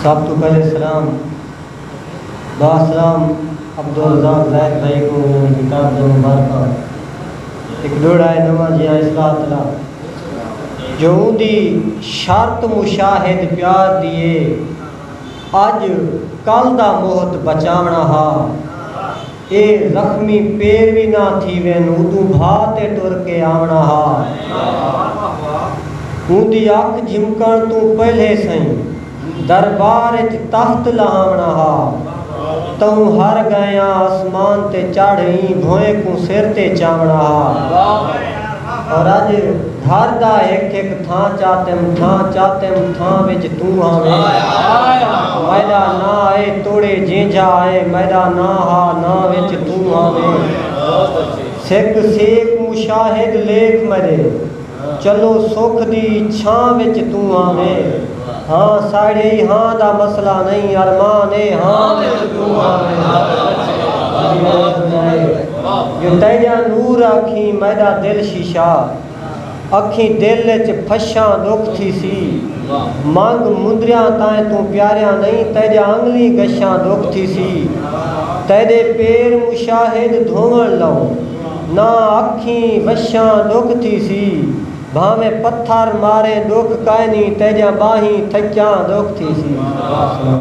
سب توں پہلے سلام باسلام عبدالرزاق زاہد بھائی کوں انہاں دی کتاب دیاں مبارکاں۔ ہک ڈوہڑا ہے نواں جیہاں اصلاح طلب جو اوندی شرط مشاہد پیار دی ہے اج کل دا محت بچاوݨا ہا۔ اے زخمی پیر وی نہ تھیون اودوں بھا تے ٹر کے آوݨا ہا۔ اوندی اکھ جھمکݨ توں پہلے سئیں دربار اچ تخت لہاوݨا ہا۔ تہوں ہر ڳئیاں اسمان تے چڑھ ایں بھوئیں کوں سر تے چاوݨا ہا۔ اور اج گھر دا ہک ہک تھاں چاتم تھاں چاتم تھاں وچ توں آویں میڈا ناں اے توڑے جینجھا اے میڈا ناں ہا ناں وچ توں آویں سک سیک مشاہد لیکھ میڈے چلو سکھ دی چھاں وچ توں آویں۔ ہاں ساڑھے ای ہاں دا مسئلہ نئیں ارمان اے ہاں میں جو توں ہاں میں ہاں دا مسئلہ ارمان اے جو تیڈا نور اکھیں میڈا دل شیشہ اکھیں دل اچ پھشاں ڈکھ تھیسی منگ مندریاں تائیں توں پیاریاں نئیں تیڈا انگلیں گشاں ڈکھ تھیسی تیڈے پیر مشاہد دھوون لو ناں اکھیں وشاں ڈکھ تھیسی بھانویں پتھر ماریں ݙکھ کائنی تیجاں ٻانہیں تھکیاں ݙکھ تھیسی۔